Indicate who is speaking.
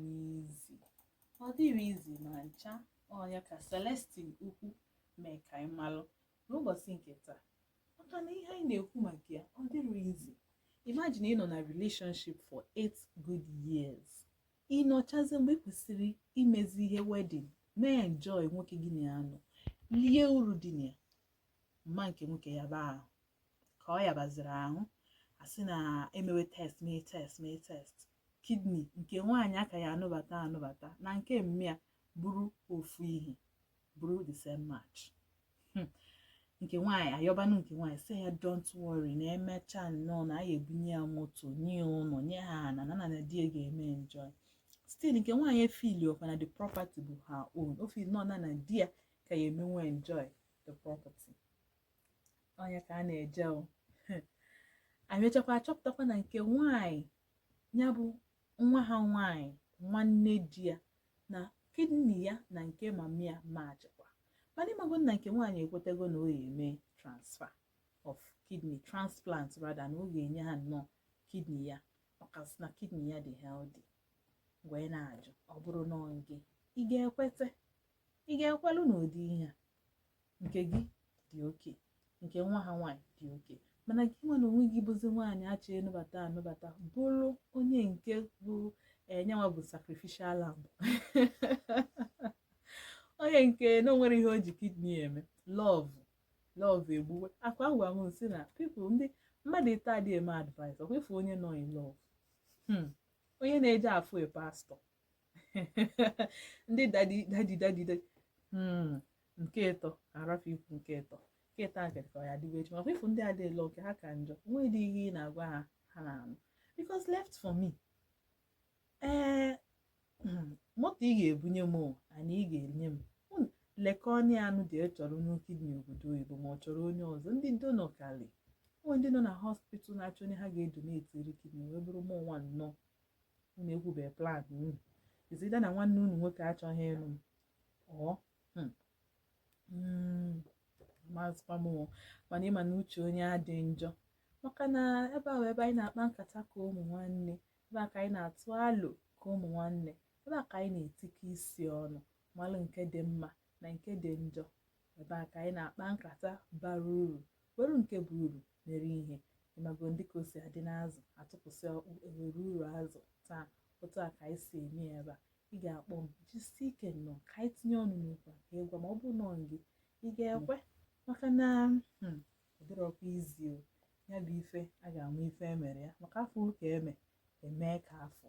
Speaker 1: n'easy ọ dịrọ easy ma ncha ọ nya ka Celestine Ukwu mee ka anyị malụ n'ụbọchị nke taa maka na ihe anyị na-ekwu maka ya ọ dịrọ easy imagine ịnọ na relationship for 8 good years ị nọchazi mgbe ị kwesịrị imezi ihe wedding mee enjoy nwoke gị na ya nọ lie uru dị na ya mma nke nwoke yaba ahụ ka ọ yabaziri ahụ a sị na emewe test mee test mee test kidney nke nwaanyị a ka ya-anụbata anụbata na nke mma ya bụrụ ofu ihe bụrụ the same match hmm. nke nwaanyị ayọbanụ nke nwaanyị sị ya don't worry na e mecha nnọọ na a ya-ebunye ya moto nye ụlọ nye ha na na na di ga-eme enjoy still nke nwaanyị efeelirọkwa na the property bụ her own o feel nọ na na di ya ka ya emenwe enjoy the property ọ nya ka a na-eje o anyị mechakwa achọpụtakwa na nke nwanyị nya bụ nwa ha nwanyị nwanne di ya na kidney ya na nke mami ya matchikwa mana ị mago na nke nwaanyị ekwetego na ọ ga-eme transfer of kidney transplant rather na ọ ga-enye ha nnọọ kidney ya ọkasị na kidney ya dị healthy wee na-ajụ ọ bụrụ na ọ gị ị ga-ekweta ị ga-ekwelu n'ụdị ihe a nke gị dị okay nke nwa ha nwaanyị dị okay mana gị nwa na onwe gị bụzi nwaanyị a chọ ịnụbata anụbata bụrụ onye nke bụ nyanwa eh, bụ sacrificial lamb onye nke na o nwerọ ihe o ji kidney eme love love egbuwe akwa agwa m sị na people ndị mmadụ ịtọ adị eme advice ọkwa ị fụ onye nọ in love hmm. onye na-eje afụ e pastor ndị daddy daddy daddy daddy hmm, nke ịtọ a rafụ ikwu nke ịtọ nke ịtọ a ka ya dịwa echi makwa ị fụ ndị a dị love nke ha ka njọ nwedị ihe ị na-agwa ha ha na-anụ because left for me ee eh, hmm, moto ị ga-ebunye m ana ị ga-enye m hmm, lekọ onye anụ dị e chọrọ onye kidney obodo oyibo ma ọ chọrọ onye ọzọ ndị donor kali o nwe ndị nọ na hospital na-achọ onye ha ga-edonatiri kidney wee bụrụ mụ nwa nnọọ unu ekwube plan unu is either na nwanne unu nwoke achọghị ịnụ m ọ hmm, hmm, mazikwa m o. mana ị ma na uche onye adị njọ maka na ebe a bụ ebe anyị na-akpa nkata ka ụmụ nwanne ebe a ka anyị na-atụ alo ka ụmụ nwanne ebe a ka anyị na-etikọ isi ọnụ malụ nke dị mma na nke dị njọ ebe a ka anyị na-akpa nkata bara uru were nke bụ uru mere ihe ịmago ndị ka o si adị n'azụ atụpụsị ọkpụ ewere uru azụ taa otu a ka anyị si eme ya ebe a ị ga-akpọ m jisi ike nnọọ ka anyị tinye ọnụ n'okwu a ka ị gwa m ma ọ bụ nnọọ gị ị ga-ekwe maka na hmm, ọ dịrọkwa easy o ya bụ ife a ga-ama ife emere ya maka afọ ụka eme emee ka afọ